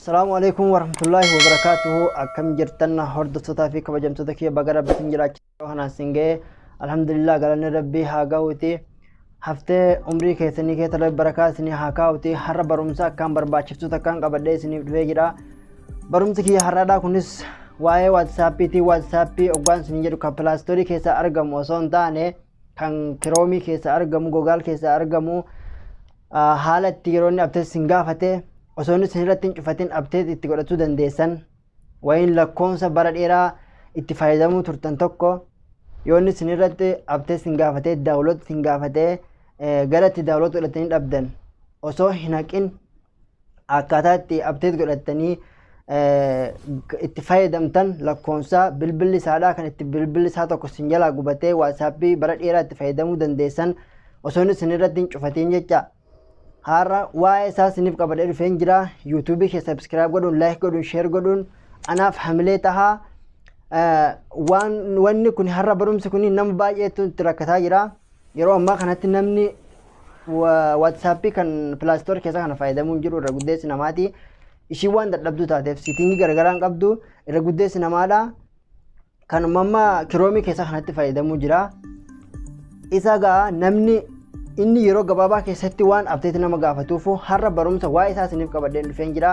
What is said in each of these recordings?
Salaamu alaikum warahmatullahi wabarakatuhu akkam jirtan hordoftoota fi kabajamtoota kiyya baga rabbi sin jiraachisa kanaan sin ga'e alhamdulillah galanni rabbi haa ga'uuti haftee umrii keessanii keessa rabbi barakaa isinii haa kaa'uuti har'a barumsa akkaan barbaachiftu takkaan qabadhee isiniif dhufee jira barumsi kiyya har'aadhaa kunis waa'ee waatsaappiitii waatsaappii oggaan isin jedhu kan pilaastoorii keessa argamu osoo hin taane kan kiroomii keessaa argamu gogaal keessaa argamu ah, haala itti yeroo inni abteet isin gaafate osoo inni isin irratti hin cufatin abteet itti godhachuu dandeessan wayiin lakkoofsa bara dheeraa itti fayyadamuu turtan tokko yoo inni isin irratti abteet isin gaafate daawuloot isin gaafate eh, gara itti daawuloot godhatanii dhabdan osoo hin haqin akkaataa itti abteet godhattanii itti fayyadamtan lakkoonsaa bilbilli isaadhaa kan itti bilbilli isaa tokko sin jalaa gubatee waasaappii bara dheeraa itti fayyadamuu dandeessan osoon isin irratti hin cufatiin jecha har'a waa'ee isaa siniif qabadee dhufeen jira yuutuubii kee sabskiraayib godhuun laayik godhuun sheer godhuun anaaf hamilee tahaa wanni kun har'a barumsi kun nama baay'eetu itti rakkataa jira. Yeroo ammaa kanatti namni WhatsApp kan Play Store keessa kana fayyadamuu hin jiru irra guddeessi namaati. Ishiin waan dadhabduu taateef siitingii garagaraa hin qabdu irra guddeessi namaadha. Kan amma kiroomii keessa kanatti fayyadamuu jira. Isa gaa namni inni yeroo gabaabaa keessatti waan abteetti nama gaafatuuf har'a barumsa waa'ee isaa isiniif qabadheen dhufeen jira.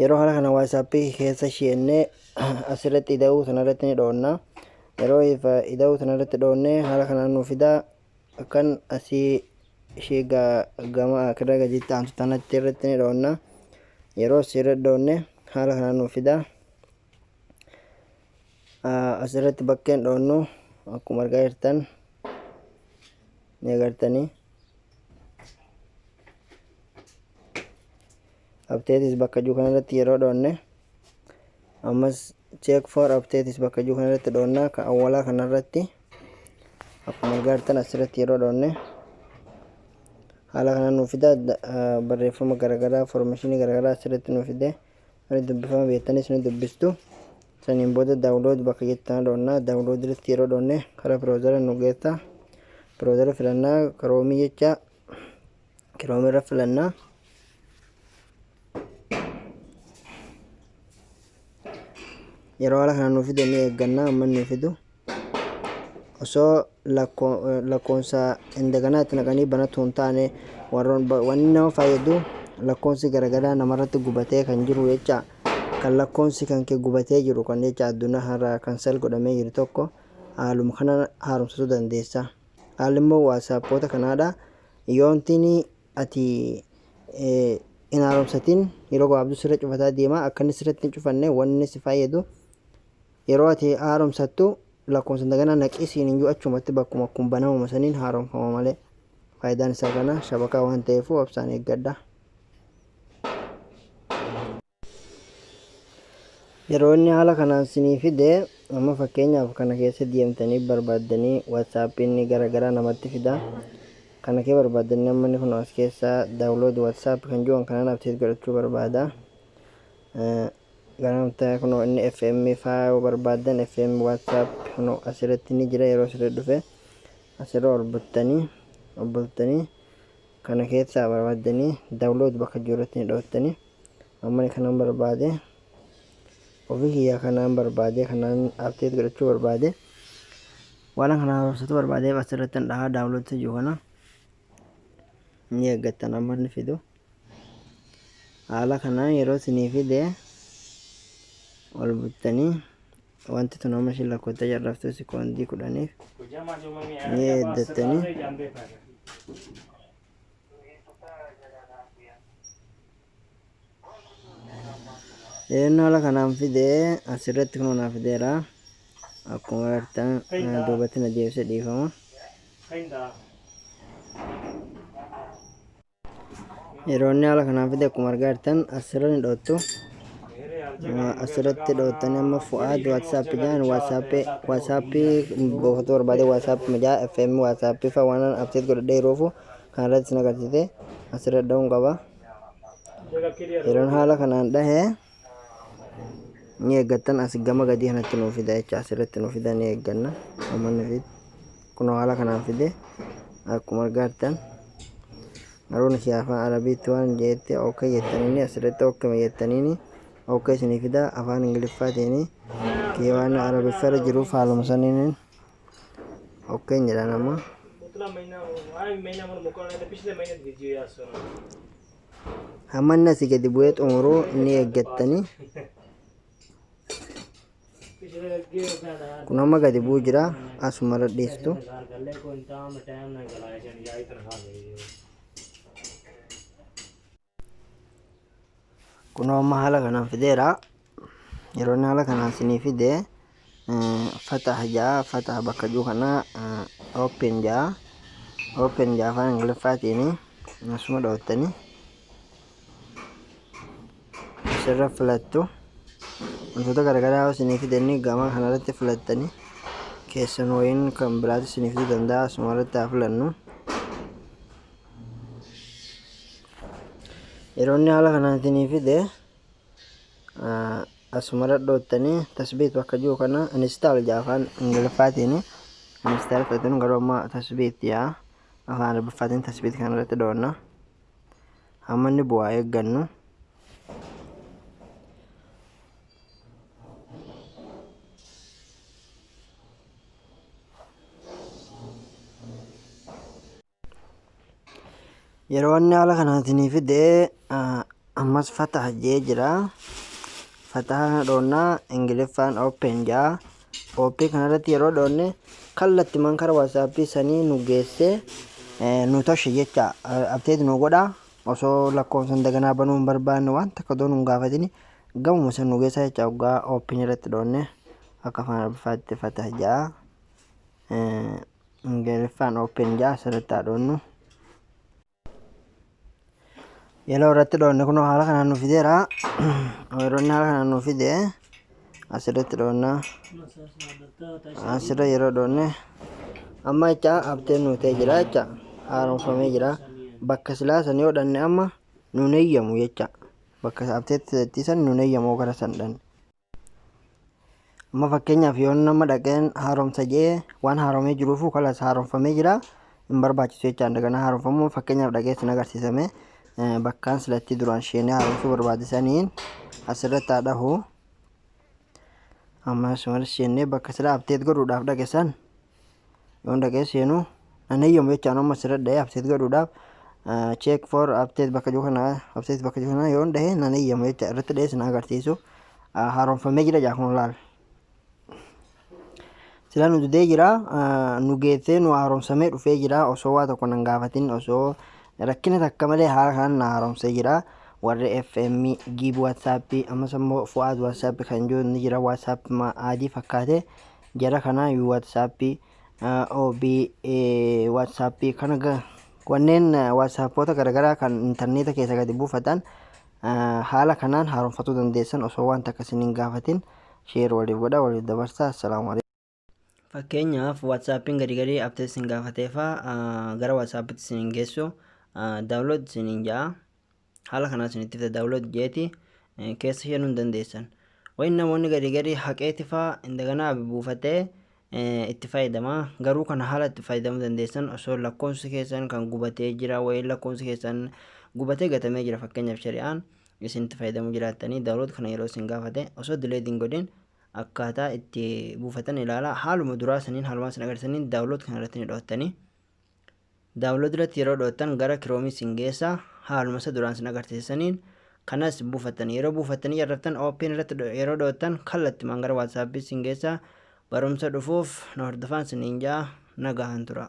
Yeroo haala kana WhatsAppii keessa sheennee asirratti ida'uu sanarratti ni dhoonna. Yeroo ida'uu sanarratti dhoonne haala kanaan nu fida kan asii ishee gama akirra gadiitti aantu tanatti irratti ni dhoonna. Yeroo asirra dhoonne haala kanaan nu fida. Asirratti bakkeen dhoonnu akkuma argaa jirtan ni agartanii. updates bakka jiru kana irratti yeroo dhoonne ammas check for updates bakka jiru kana irratti dhoonnaa ka awwalaa kana irratti akkuma argaartan asirratti yeroo dhoonne haala kana nuuf fida barreeffama garaagaraa formeeshinii garaagaraa asirratti nuuf fide ani dubbifama beektanis ni dubbistu saniin booda daawulood bakka jettan dhoonnaa daawulood irratti yeroo dhoonne karaa biroozara nu geessa biroozara filannaa karoomii jecha Kiroom irra filannaa. Yeroo haala kana nuuf fide ni eeggannaa amma inni fidu. Osoo lakkoonsa indaganaa itti naqanii banatu hin taane wanni nama fayyadu lakkoonsi garagaraa namarratti gubatee kan jiru jecha kan lakkoonsi kan kee gubatee jiru kan jecha addunyaa har'aa kan sel godhamee jiru tokko haaluma kana haaromsisuu dandeessa. Haalli immoo waasaappoota kanaadha. Yoontin ati hin haaromsatin yeroo gabaabduu sirra cufataa deema akka inni sirratti hin cufanne wanni si fayyadu yeroo ati haaromsattu lakkoofsa daganaa naqii siin hin jiru achumatti bakkuma kun banamuma saniin haaromfama malee faayidaan isaa kana shabakaa waan ta'eef obsaan eeggadha. Yeroo inni haala kanaan sinii fide amma fakkeenyaaf kana keessa deemtanii barbaaddanii WhatsApp'n gara garaa namatti fida. Kana kee barbaaddanii amma inni kun as keessa download WhatsApp kan jiru kanan update godhachuu barbaada. Gara namtaa kun inni FM faa yoo barbaaddan FM WhatsApp kun asirratti ni jira yeroo sirrii dhufe asirra ol buttanii ol bultanii kana keessaa barbaaddanii download bakka jiru irratti ni dhooftanii. Ammani kanan barbaade ofii kiyyaa kanaan barbaade kanaan update godhachuu barbaade waanan kana haaromsatu barbaadeef asirrattan dhahaa download isa jiru kana ni eeggattan amma inni fidu haala kanaan yeroo isinii fide ol buttanii wanti tun amma ishiin lakkoofta jarraftu sekoondii kudhaniif ni eeggattanii Eenyu haala kanaan fide asirratti kunoo naa fideera. Akkuma agartan eh, duubatti na deebisee dhiifama. Yeroo inni haala kanaan fide akkuma argaa jirtan asirra ni dhoottu. Eh, Asirratti dhoottanii amma fu'aad WhatsApp jedhan WhatsApp WhatsApp buufachuu barbaade WhatsApp mijaa FM WhatsApp fa waan abseet godhadhee yeroofu Kana irrattis na qabsiise asirra dhahuun qaba. Yeroon haala kanaan dhahe ni eeggattan as gama gadii kanatti nuuf fida jecha asirratti nuuf fida ni eegganna uummanni fi kunoo haala kanaan fide akkuma argaattan maruun ishee afaan arabiitti waan jeetti okkee jettaniini asirratti okkee jettaniini okkee isinii fida afaan ingiliffaatiin keewaana arabiffara jiruuf haaluma saniin ok hin jedhaan amma amma inni asii gadi bu'ee xumuruu ni eeggattanii kun amma gadi bu'u jira asuma irra dhiistu kunoo amma haala kanaan fideera yeroo inni haala kanaan isinii fide fataha ja'a fataha bakka jiru kana open ja'a open ja'a afaan ingiliffaatiin asuma dhoottani asirra filattu wantoota garaagaraa yoo isinii fide inni gama kanarratti filattani keessan wayiin kan biraatti isinii fiduu danda'a asuma irratti haa filannu. Yeroonni haala kanaan isinii fide asumara dhoottanii tasbiitu akka jiru kana install jedha afaan ingiliffaatiin install fudhatanii garuu amma tasbiitti yaa afaan arabiffaatiin tasbiitti kana irratti dhoonna hamma inni bu'aa eeggannu yeroo inni haala kanaatiin fidee ammas fataha jee jira fataha kana dhoonnaa ingiliffaan open jaa open kanarratti yeroo dhoonne kallattiman kara waasaappii sanii nu geesse nu toshe jecha abteet nu godha osoo lakkoofsan daganaa banuu hin barbaanne waan takka doon hin gaafatini gamuma san nu geessa jecha oggaa open irratti dhoonne akka afaan arabiffaatti fataha jaa Ingiliffaan open jaa asirratti haa dhoonnu. Yeloo irratti dhoonne kunoo haala kanaan nu fideera. Weeronni haala kanaan nu fide asirratti dhoonna. Asirra yeroo dhoonne amma jecha abteen nu ta'e jira jecha haaromfamee jira. Bakka silaa san yoo dhanne amma nu neeyyamu jecha bakka abteetti san nu neeyyamu gara san dhanne. Amma fakkeenyaaf yoo nama dhaqeen haaromsa jedhee waan haaromee jiruufuu kalas haaromfamee jira. Hin barbaachisu jechaa daganaa haaromfamuu fakkeenyaaf dhaqee sin agarsiisame bakkaan silatti duraan sheenee haaromsuu barbaade saniin asirratti haa dhahu. Ammas malis sheennee bakka sila abteet godhuudhaaf dhaqe san Yoon dhaqee seenu an eeyyamu jechaan amma sirra dha'ee abseet godhuudhaaf check for abseet bakka jiru kana abseet bakka jiru kana yoon dha'ee nan eeyyamu jecha irratti dha'ee sin agarsiisu haaromfamee jira jaa kun laal. Sila nu didee jira nu geessee nu haaromsamee dhufee jira osoo waa tokko nan gaafatin osoo rakkina takka malee haala kanaan na haaromsee jira. warri FM giib WhatsApp ammas immoo fu'aad WhatsApp kan jiru ni jira WhatsApp adii fakkaate Jara kana whatsapp ob whatsapp kana ga- wanneen whatsappota garagaraa kan intarneeta keessa gadi buufatan ah, haala kanaan haaromfatuu dandeessan osoo wanta akka isin hin gaafatin sheer waliif godha waliif dabarsa assalaamu alaikum fakkeenyaaf whatsappin gadi gadi abtees isin gaafateefa ah, gara whatsapptti isin hin geessu daawlood isin hin ja'a haala kanaa isinitti fida daawulood jeeti keessa seenuu hin dandeessan. Wayin namoonni gadi gadi haqeeti faa indaganaa abi buufatee itti fayyadama garuu kana haala itti fayyadamuu dandeessan osoo lakkoofsi keessan kan gubatee jira wayin lakkoofsi keessan gubatee gatamee jira fakkeenyaaf shari'aan isin itti fayyadamuu jiraattanii daawulood kana yeroo isin gaafate osoo dileed hin godhin akkaataa itti buufatan ilaala haaluma duraa saniin haalumaa isin agarsiisaniin daawulood kana irratti ni dho'attanii. daawunlood irratti yeroo dhoottan gara kiroomii sin geessa haaluma isa duraan sin agarsiisaniin kanas buufattan yeroo buufattanii jarraftan ooppiin irratti yeroo dhoottan kallattimaan gara waatsaappii sin geessa barumsa dhufuuf na hordofaan siniin ja'a nagahan tura.